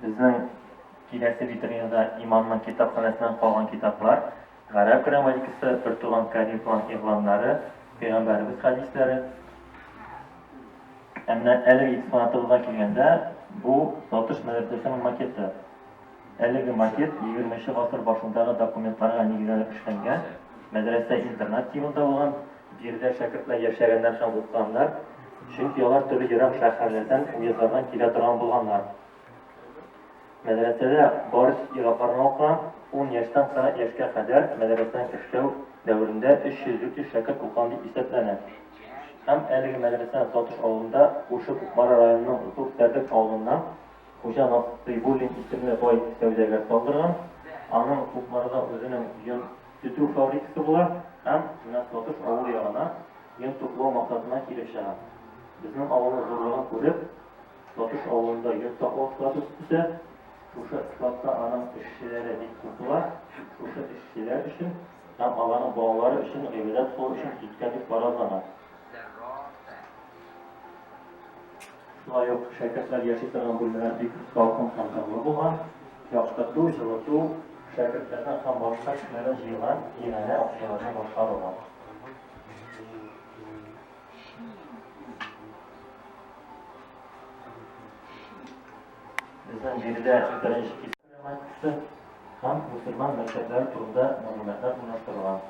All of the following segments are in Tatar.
Безнең киләсе витринада имамның китапханәсеннән калган китаплар, гарәп грамматикасы, бер туган Карим план игъланнары, пәйгамбәребез хәдисләре. Әмма әлеге экспонатыбызга килгәндә, бу Латыш мәдрәсәсенең макеты. Әлеге макет егерме нче гасыр башындагы документларга нигезләнеп эшләнгән, мәдрәсә-интернат тибында булган, биредә шәкертләр яшәгәннәр һәм укыганнар, чөнки алар төрле ерак шәһәрләрдән, уездлардан килә торган булганнар. Мәдрәсәдә барысы ир-атларга укыган, ун яшьтән кырык яшькә кадәр мәдрәсәнең эшләү дәверендә 300-400 шәкерт укыган дип исәпләнә. Һәм әлеге мәдрәсә Сатыш авылында, күрше Кукмара районының Зур Тәрдек авылыннан Хуҗа Насыйбуллин исемле бай сәүдәгәр салдырган. Аның Кукмарда үзенең йон тетү фабрикасы була һәм нәкъ Батыш авылы ягына йон туплау максатына килеп чыга. Безнең авылның зурлыгын күреп, Батыш авылында йон саклау склады төзетә. Шушы складта аның эшчеләре бик күп була. Шушы эшчеләр өчен һәм аларның балалары өчен гыйбадәт кылу өчен киткән дип фаразлана. Шулай ук шәкертләр яши торган бүлмәләр бик салкын һәм тынлы булган, яктырту, җылыту, шәкертләрнең һәм башка кешеләрнең җыйган иганә акчаларына башкарылган. Безнең биредә беренче кисәкче һәм мусульман мәктәпләре турында мәгълүматлар урнаштырылган.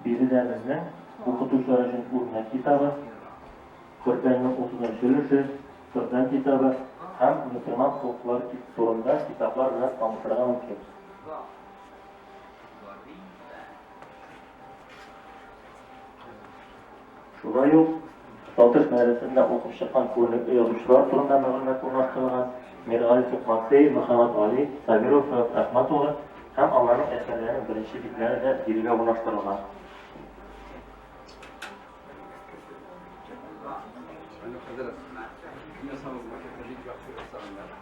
Биредә безнең укытучылар өчен үрнәк китабы, Коръәннең 30 өлеше, Коръән китабы һәм мөселман хокуклары турында китаплар белән танышырга мөмкин. Шулай ук Балтач мәдрәсәсендә укып чыккан күренекле язучылар турында мәгълүмат урнаштырылган, Миргалиф Матвеев, Мөхәммәт Гали, Сабиров Фәрат Рәхмәт улы һәм аларның әсәрләренең беренче битләре дә бирегә урнаштырылган.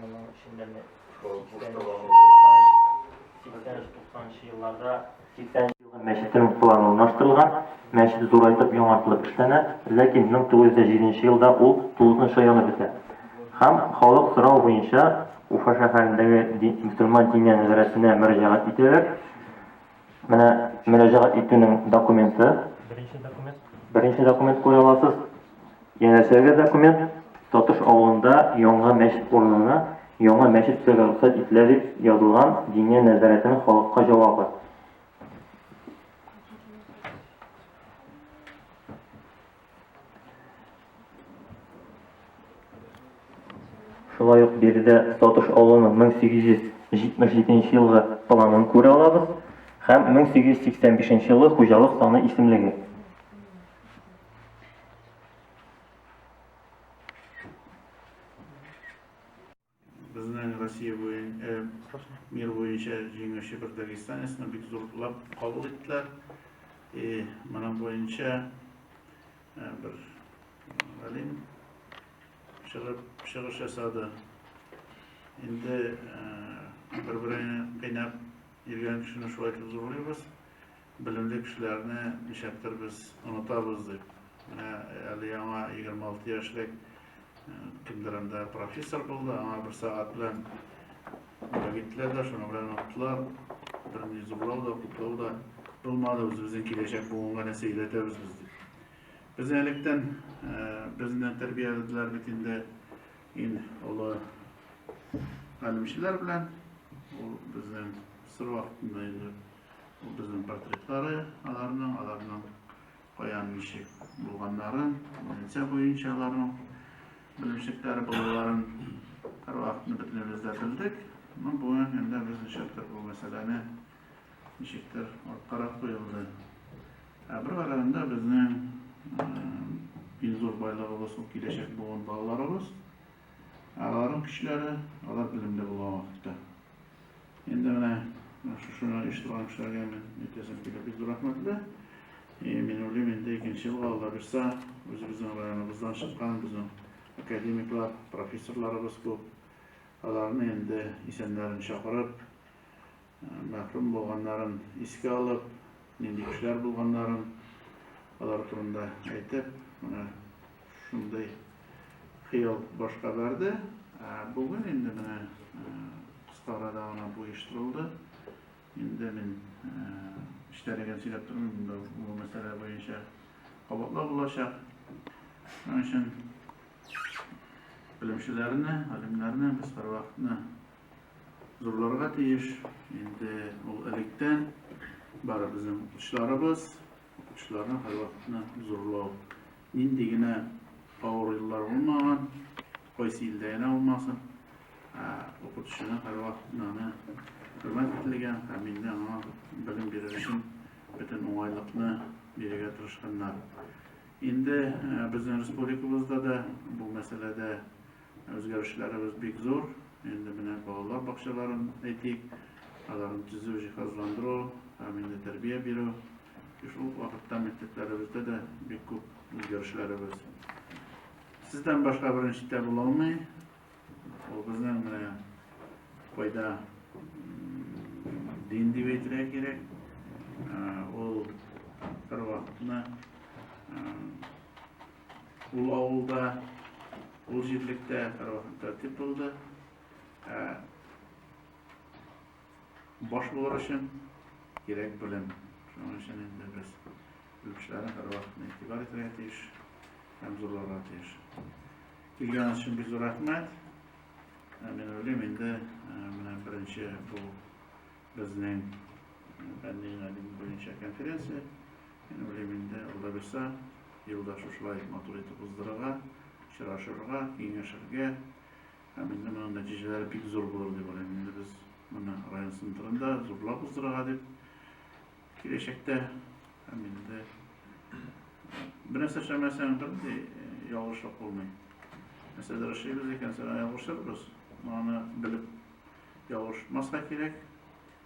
Моның эчендә менә 80-90нчы елларда 80 елгы мәчетенең планы урнаштырылган. Мәчет зурайтып, яңартылып эшләнә, ләкин 1907 елда ул тулысынча янып бетә. Һәм халык сорау буенча Уфа шәһәрендәге мөселман диния нәзарәтенә мөрәҗәгать итәләр. Менә мөрәҗәгать итүнең документы. Беренче документ. Беренче документ куя аласыз. Янәшәгә документ Татыш авылында яңа мәчет урынына яңа мәчет төзергә рөхсәт ителә дип язылган Диния нәзарәтенең халыкка җавабы. Шулай ук биредә Тотыш авылының 1877 елгы планын күрә алабыз һәм 1885 елгы хуҗалык саны исемлеге. Безнең Россия буенча, мир буенча җиңүче бер дагестанецны бик зурлап кабул иттеләр. И моның буенча бер галим чыгып чыгыш ясады. Инде бер-береңне кыйнап йөргән кешене шулай итеп зурлыйбыз. Белемле кешеләрне ничәктер без онытабыз дип, менә әле яңа 26 яшьлек кемдер анда профессор булды, аңа бер сәгать белән киттеләр дә, шуның белән оныттылар. Берни зурлау да, кутлау да булмады, үзебезнең киләчәк буынга нәрсә өйрәтәбез без дип. Без электән безне тәрбияләделәр бит инде ин олы галимчеләр белән, ул безнең сыр вакытында инде Ул безнең портретлары, аларның, аларның каян, ничек булганнарын, лица буенча аларның белемчекләре булуларын һәрвакытны бөтенебез дә белдек. Мо бүген инде без ничектер бу мәсьәләне ничектер арткарак куелды. Ә бер караганда безнең иң зур байлыгыбыз ул киләчәк буын балаларыбыз. Аларның көчләре, алар белемле булган вакытта. Инде менә шушыны оештырган кешеләргә мин әйтәсем килә, бик зур рәхмәтле. И мин уйлыйм, инде икенче елга Алла бирсә, үзебезнең районыбыздан чыккан безнең академиклар, профессорларыбыз күп. Аларны инде исәннәрен чакырып, мәхрүм булганнарын искә алып, нинди кешеләр булганнарын алар турында әйтеп, менә Шундый хыял башка барды. Ә бүген инде менә кыска арада гына бу оештырылды. Инде мин эчтәлеген сөйләп тормыйм, инде бу мәсьәлә буенча кабатлау булачак. Шуның өчен белемчеләрне, галимнәрне без һәрвакытны зурларга тиеш. Инде ул электән бар безнең укытучыларыбыз, укытучыларны һәрвакытны зурлау Нинди генә авыр еллар булмаган, кайсы илдә генә булмасын, ә укытучыны һәрвакыт аны хөрмәт ителгән һәм инде аңа белем бирер өчен бөтен уңайлыкны бирергә тырышканнар. Инде безнең республикабызда да бу мәсьәләдә үзгәрешләребез бик зур. Инде менә балалар бакчаларын әйтик, аларны төзү, җиһазландыру һәм инде тәрбия бирү. Чөнки шул ук вакытта мәктәпләребездә дә бик күп үзгәрешләребез. Сездән башка беренчедә була алмый. Ул безнең менә кайда дин дип әйтергә кирәк. Ул бер вакытны ул авылда, ул җирлектә бер вакытта тип булды. Баш булыр өчен кирәк белем. Шуның өчен инде без белгечләрне һәрвакытны игътибар итәргә тиеш һәм зурларга тиеш. Килгән өчен бик зур рәхмәт. Ә мин уйлыйм инде менә беренче бу безнең фәнни галим буенча конференция. Мин уйлыйм инде алда бирсә елда шушылай матур итеп уздырырга, очрашырга, киңәшергә, Һәм инде моның нәтиҗәләре бик зур булыр дип уйлыйм. Инде без моны район центрында зурлап уздырырга дип киләчәктә һәм инде бернәрсә эшләмәсәң бернинди ялгышлык булмый. Нәрсәдер эшлибез икән, сәләм ялгышырбыз. Аны белеп ялгышмаска кирәк.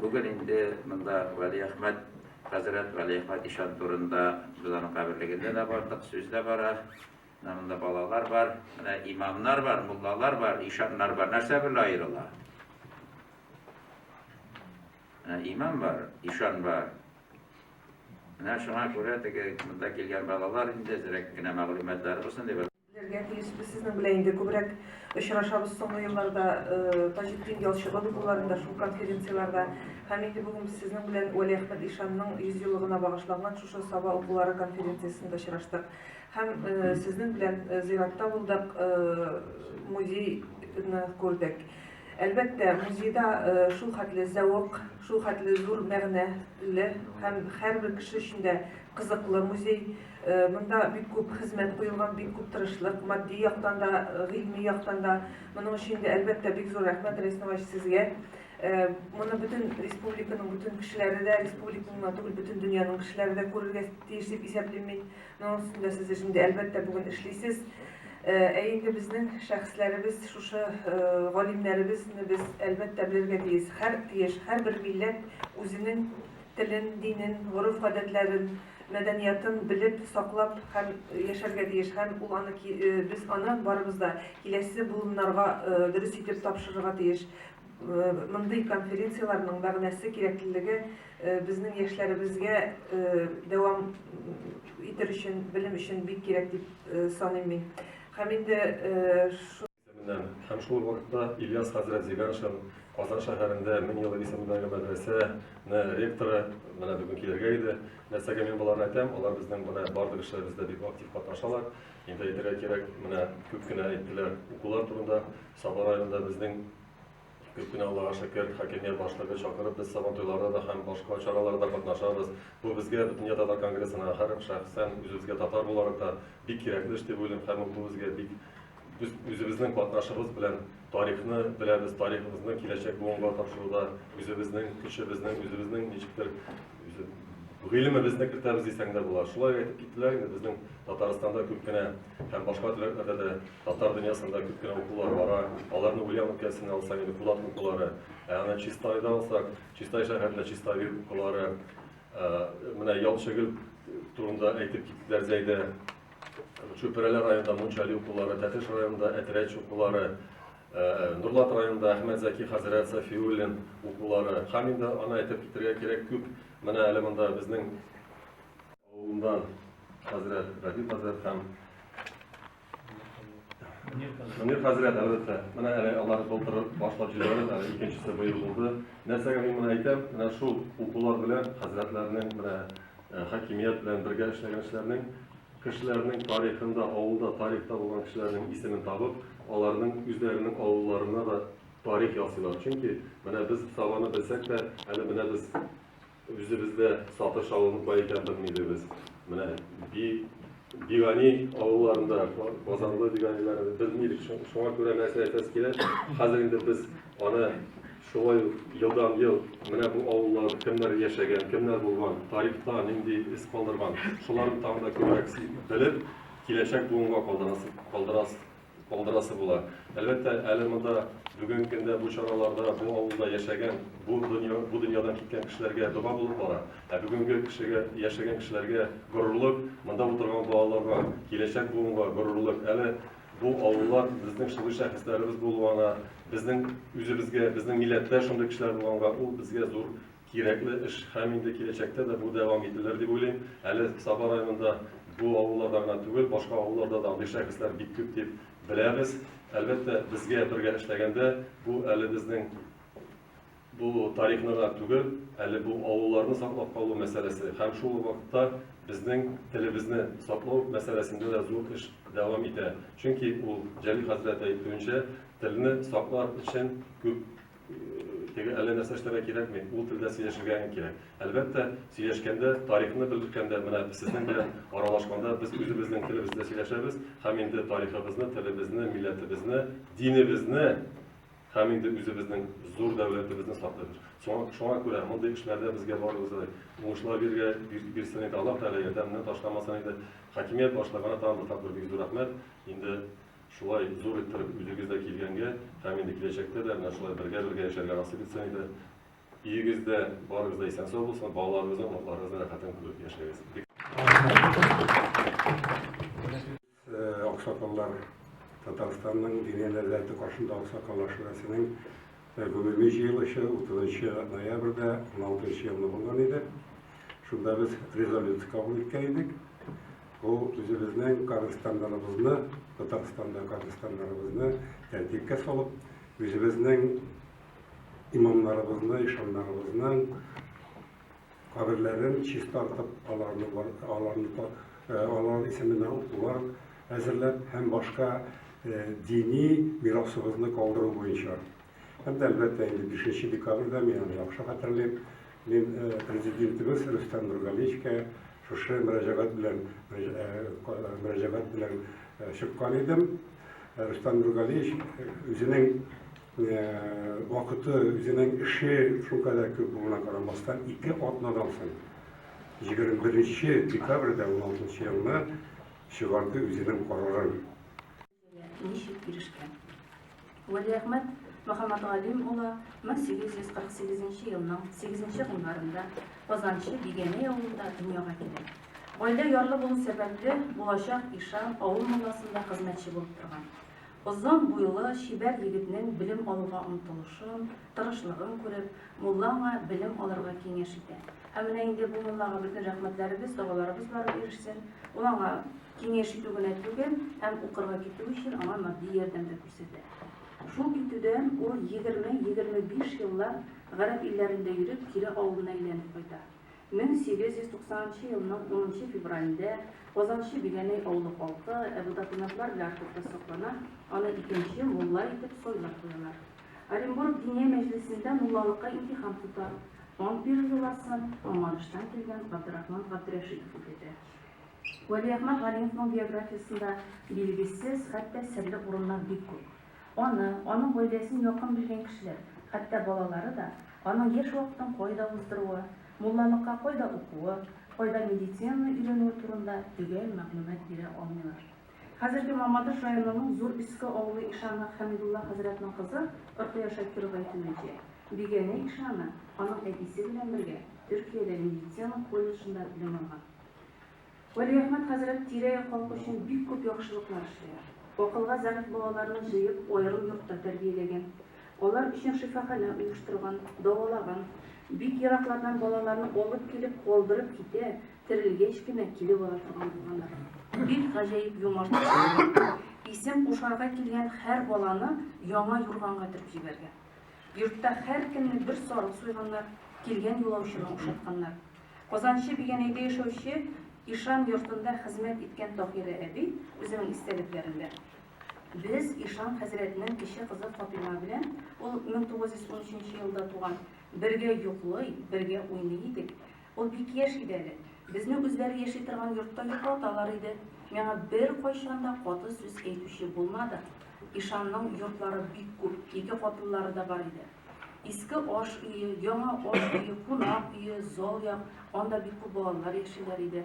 Бүген инде монда Вәлиәхмәт хәзрәт, Вәлиәхмәт ишан турында без аның каберлегендә дә бардык, сүз дә бара. Менә монда балалар бар, менә имамнар бар, муллалар бар, ишаннар бар. Нәрсә берлә аерыла? Менә имам бар, ишан бар. Менә шуңа күрә теге монда килгән балалар инде зрәк кенә мәгълүматлары булсын дип Белергә тиеш без сезнең белән инде күбрәк очрашабыз соңгы елларда Таҗетдин Ялчыга булуларында шул конференцияләрдә һәм инде бүген без сезнең белән Вәли Әхмәт ишанның 100 еллыгына багышланган шушы Саба укулары конференциясендә очраштык һәм сезнең белән зиратта булдык, музейны күрдек. Әлбәттә, музейда шул хәтле зәвык, шул хәтле зур мәгънәле һәм һәрбер кеше өчен дә кызыклы музей. Монда бик күп хезмәт куелган, бик күп тырышлык, матди яктан да, гыйльми яктан да. Моның өчен дә, әлбәттә, бик зур рәхмәт, Рәис Нугаевич, сезгә. Моны бөтен республиканың бөтен кешеләре дә, республиканың гына түгел, бөтен дөньяның кешеләре дә күрергә тиеш дип исәплим мин. Моның өстендә сез өчен дә, әлбәттә, бүген эшлисез. Ә инде безнең шәхесләребез, шушы галимнәребезне без әлбәттә белергә тиеш. Һәр тиеш, һәрбер милләт үзенең телен, динен, гореф-гадәтләрен, мәдәниятын белеп, саклап һәм яшәргә тиеш һәм ул аны ки без аны барыбыз да киләсе буыннарга дөрес итеп тапшырырга тиеш. Мондый конференцияләрнең мәгънәсе, кирәклелеге безнең яшьләребезгә дәвам итер өчен, белем өчен бик кирәк дип саныйм мин. Һәм инде Һәм шул ук вакытта Ильяс хәзрәт Зиганшин, Казан шәһәрендә Мең еллык исемендәге мәдрәсә нә ректоры, менә бүген килергә иде. Нәрсәгә мин боларны әйтәм, алар безнең менә барлык эшләребездә бик актив катнашалар. Инде әйтергә кирәк, менә күп кенә әйттеләр укулар турында, Саба районында безнең. Кечкенә Аллага шөкер, хакимия башлыгы чакырып, без Сабан туйларда да һәм башка чараларда катнашабыз. Бу безгә Бөтендөнья татар конгрессына һәр шәхсән үзебезгә татар буларак та бик кирәкле эш дип уйлыйм һәм бу безгә бик без үзебезнең катнашыбыз белән тарихны беләбез, тарихыбызны киләчәк буынга тапшыруда үзебезнең көчебезнең, үзебезнең ничектер Гыйлемебезне кертәбез дисәң дә була. Шулай әйтеп киттеләр инде. Безнең Татарстанда күп кенә һәм башка төбәкләрдә дә татар дөньясында күп кенә укулар бара. Аларны Ульян өлкәсенә алсаң, инде Кулат укулары. Ә аны Чистайда алсак, Чистай шәһәрендә Чистави укулары. Менә Ялчыгөл турында әйтеп киттеләр Зәйдә. Чүпрәле районында Мунчали укулары, Тәтеш районында Әтрәч укулары. Нурлат районында Әхмәт Зәки хәзрәт Сафиуллин укулары һәм инде аны әйтеп китергә кирәк күп. Менә әле монда безнең авылыннан хәзрәт Радил хәзрәт һәм Мөнир хәзрәт, әлбәттә, менә әле алар былтыр башлап җибәрде, әле икенчесе быел булды. Нәрсәгә мин моны әйтәм? Менә шул укулар белән хәзрәтләрнең, менә хакимият белән бергә эшләгән эшләрнең Кешеләрнең тарихында, авылда тарихта булган кешеләрнең исемен табып, аларның үзләренең авылларына да тарих ясыйлар. Чөнки менә без Сабаны белсәк тә, әле менә без үзебез дә Сатыш авылының кая икәнен белми идебез. Менә би, Бигани авылларында, Базарлы Биганиләрне белми идек. Шуңа күрә нәрсә әйтәсе килә, хәзер инде без аны Шулай ук елдан-ел менә бу авылларда кемнәр яшәгән, кемнәр булган, тарихта нинди эз калдырган, шуларны тагын да күбрәк белеп, киләчәк буынга калдырасы була. Әлбәттә, әле монда бүгенге көндә бу чараларда бу авылда яшәгән, бу дөньядан киткән кешеләргә дога булып бара. Ә бүгенге кешегә, яшәгән кешеләргә горурлык, монда утырган балаларга, киләчәк буынга горурлык. Әле Бу авыллар безнең шугый шәхесләребез булуына, безнең үзебезгә, безнең милләттә шундый кешеләр булганга, ул безгә зур кирәкле эш һәм инде киләчәктә дә бу дәвам ителер дип уйлыйм. Әле Саба районында бу авылларда гына түгел, башка авылларда да андый шәхесләр бик күп дип беләбез. Әлбәттә, безгә бергә эшләгәндә, бу әле безнең Бу тарихны гына түгел, әле бу авылларны саклап калу мәсьәләсе һәм шул ук вакытта безнең телебезне саклау мәсьәләсендә дә зур эш дәвам итә. Чөнки ул, Җәлил хәзрәт әйтүенчә, телне саклар өчен күп теге әллә нәрсә эшләргә кирәкми, ул телдә сөйләшергә генә кирәк. Әлбәттә, сөйләшкәндә, тарихны белгәндә, менә сезнең белән аралашканда без үзебезнең телебездә сөйләшәбез һәм инде тарихыбызны, телебезне, милләтебезне, динебезне, Һәм инде үзебезнең зур дәүләтебезне саклыйк. Соң, шуңа күрә мондый эшләрдә безгә барыбызга да уңышлар бирергә бир, бирсен иде Аллаһ Тәгалә, ярдәменнән ташламасын иде. Хакимият башлыгына тагын бер тапкыр бик зур рәхмәт. Инде шулай зур иттереп үзегез дә килгәнгә һәм инде киләчәктә дә менә шулай бергә-бергә яшәргә насыйп итсен иде. Өегез дә, барыгыз да исән-сау булсын, балаларыгызның, оныкларыгызның рәхәтен күреп яшәгез. Бик. Аксакаллар Татарстанның Диния нәзарәте каршында аксакал ашханәсенең гомуми җыелышы 30 ноябрьдә 16 елны булган иде. Шунда без резолюция кабул иткән идек. Бу үзебезнең каберстаннарыбызны, Татарстанда каберстаннарыбызны тәртипкә салып, үзебезнең имамнарыбызны, ишаннарыбызның каберләрен чистартып, аларны аларны алар исеменә укулар әзерләп һәм башка дини мирасыбызны калдыру буенча. Һәм дә, әлбәттә, инде 5 декабрьдә мин аны яхшы хәтерлим. Мин президентыбыз Рөстәм Нургалиевичка шушы мөрәҗәгать белән мөрәҗәгать белән чыккан идем. Рөстәм Нургалиевич үзенең Вакыты, үзенең эше шул кадәр күп булуына карамастан, ике атнадан соң, 21 нче декабрьдә 16 нчы елны чыгарды үзенең карарын. Ничек ирешкән? Вәлиәхмәт Мөхәммәтгалим улы 1848 нче елның 8 нче гыйнварында Казанчы Бигәнәй авылында дөньяга килә. Гаилә ярлы булу сәбәпле, булачак ишан авыл мулласында хезмәтче булып торган. Озын буйлы, чибәр егетнең белем алуга омтылышын, тырышлыгын күреп, мулла аңа белем алырга киңәш итә. Һәм менә инде бу муллага бөтен рәхмәтләребез, догаларыбыз барып ирешсен. Ул аңа киңәш итү генә түгел, һәм укырга китү өчен аңа матди ярдәм дә күрсәтә. Шул китүдән ул егерме-егерме биш еллап гарәп илләрендә йөреп, кире авылына әйләнеп кайта. 1890 нчы елның 10 нчы февралендә Казанчы Биләнәй авылы халкы Әбу Докумәтлар белән хокукта соклана, аны икенче мулла итеп сайлап куялар. Оренбург Диния мәҗлесендә муллалыкка имтихан тота. Ант бирү йоласын Мамадыштан килгән Габдрахман Габдрәшитов үтәтә. Вәлиәхмәт Галимовның биографиясендә билгесез, хәтта серле урыннар бик күп. Аны, аның гаиләсен якын белгән кешеләр, хәтта балалары да, аның яшь вакытын кайда уздыруы, муллалыкка кайда укуы, кайда медицинаны өйрәнүе турында төгәл мәгълүмат бирә алмыйлар. Хәзерге Мамадыш районының Зур Өске авылы ишаны Хәмидулла хәзрәтнең кызы Рокыя Шакирова әйтүенчә, Бигәнә ишаны аның әтисе белән бергә Төркиядә медицина колледжында белем алган. Вәлиәхмәт хәзрәт тирә-як халкы өчен бик күп яхшылыклар эшләгән. Акылга зәгыйфь балаларны җыеп, аерым йортта тәрбияләгән. Алар өчен шифаханә оештырган, дәвалаган. Бик ераклардан балаларны алып килеп, калдырып китә, терелгәч кенә килеп ала торган булганнар. Бик гаҗәеп юмарт булган. Исем кушарга килгән һәр баланы яңа юрганга төреп җибәргән. Йортта һәркемне бер сарык суйганнар, килгән юлаучыны ошатканнар. Казанчы Бигәнәйдә яшәүче Ишан йортында хезмәт иткән Таһирә әби үзенең истәлекләрендә, Без Ишан хәзрәтнең кече кызы Фатыйма белән, ул 1913 елда туган, бергә йоклый, бергә уйный идек. Ул бик яшь иде әле. Безне үзләре яши торган йортта йоклаталар иде. Миңа беркайчан да каты сүз әйтүче булмады. Ишанның йортлары бик күп, ике катлылары да бар иде. Иске аш өе, яңа аш өе, кунак өе, зал як, анда бик күп балалар яшиләр иде.